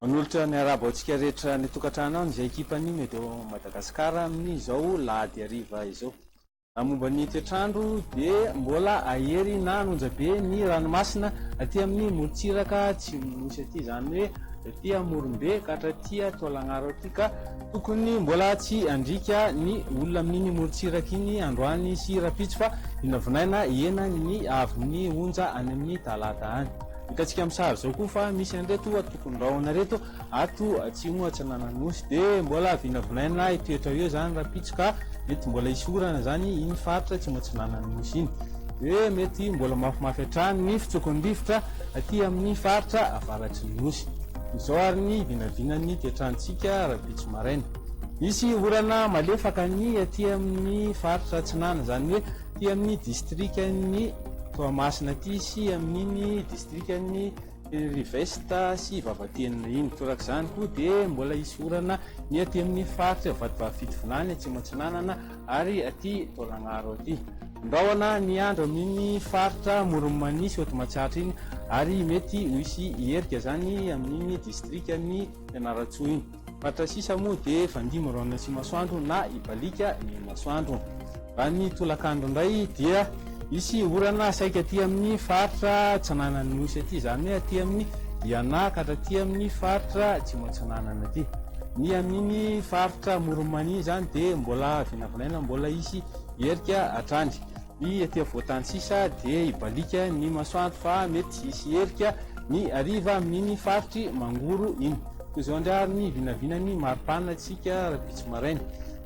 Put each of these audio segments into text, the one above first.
Manolotra ny arabo antsika rehetra any an-tokantranony izay ekipan'ny Medo Madagascar amin'izao lahady hariva izao. Raha momba ny toetr'andro dia mbola ahery na hanonja be ny ranomasina aty amin'ny morontsiraka atsimon'ny Nosy aty, izany hoe aty Amorombe ka hatraty Taolagnaro aty ka tokony mbola tsy handriaka ny olona amin'iny morontsiraka iny androany sy rahampitso fa vinavinaina hihena ny haavon'ny onja any amin'ny talata any. Hitantsika amin'ny sary izao koa fa misy an'ireto tompon-drahona ireto Ato atsimo atsinanan'Nosy dia mbola vinavinaina io toetra io izany rahampitso ka mety mbola hisy orana izany iny faritra atsimo atsinanan'ny Nosy iny dia mety mbola mafimafy hatrany ny fitsokony rivotra aty amin'ny faritra avaratry ny Nosy. Izao ary ny vinavinan'ny toetrantsika rahampitso maraina. Hisy orana malefaka ny aty amin'ny faritra atsinanana izany hoe aty amin'ny distrikan'i Toamasina aty sy amin'iny distrikan'i. Ry veste sy vavatenina iny. Toraka izany koa dia mbola hisy orana ny aty amin'ny faritra Vatovavy-Fitovinany Atsimo Atsinanana ary aty Taolagnaro aty. Andrahona ny andro amin'iny faritra Amoron'i Mania sy Haute Matsiatra iny ary mety ho hisy erika izany amin'iny distrikan'i Fianarantsoa iny. Faritra sisa moa dia fandia miraonina sy masoandro na ibaliaka ny masoandro. Raha ny tolakandro indray dia hisy orana saika aty amin'ny faritra atsinanan'ny Nosy aty, izany hoe aty amin'ny Diana ka hatraty amin'ny faritra Atsimo Atsinanana aty. Ny amin'iny faritra Amoron'i Mania izany dia mbola vinavinaina mbola hisy erika hatrany. Ny aty afovoan-tany sisa dia hibaliaka ny masoandro fa mety hisy herika ny hariva amin'iny faritry Mangoro iny. Toy izao indray ary ny vinavinan'ny mari-panina antsika rahampitso maraina.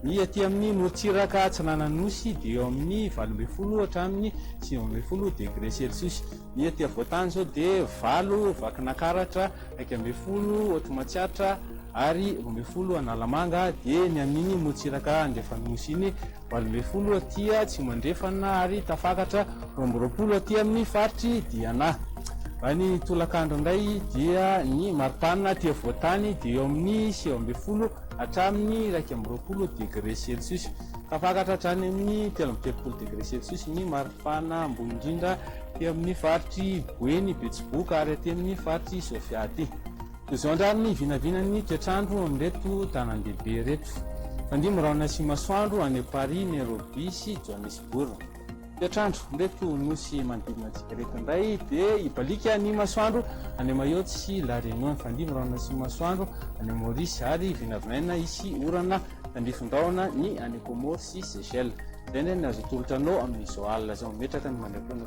Ny aty amin'ny morontsiraka atsinanan'ny Nosy dia eo amin'ny valo ambin'ny folo hatramin'ny sivy ambin'ny folo degre celsius. Ny aty afovoan-tany izao dia valo Vakinankaratra, iraika ambin'ny folo Haute Matsiatra ary roa ambin'ny folo Analamanga dia ny amin'iny morontsiraka andrefan'ny Nosy iny valo ambin'ny folo aty Atsimo Andrefana ary tafakatra roa amby roapolo aty amin'ny faritr'i Diana. Raha ny tolakandro indray dia ny mari-panina aty afovoan-tany dia eo amin'ny sivy ambin'ny folo hatramin'ny iraika amby roapolo degré celsius. Tafakatra hatrany amin'ny telo amby telopolo degré celsius ny mari-panina ambony indrindra aty amin'ny faritr'i Boeny, Betsiboka ary aty amin'ny faritr'i Sofia aty. Izao andrary ny vinavinan'ny toetr'andro amin'ireto tanàndehibe ireto. Fandihy miraona sy masoandro any Paris, Nairobi sy Johannesburg. Toetr'andro amin'ireto nosy manodidina antsika ireto indray dia hibaliaka ny masoandro any Mayotte sy La Réunion. Fandihy miraona sy masoandro any Maurice ary vinavinaina hisy orana tandrifin-drahona ny any Comores sy Seychelles. Izay indray ny azo atolotra anao amin'izao alina izao. Metraka ny maimaimpoana.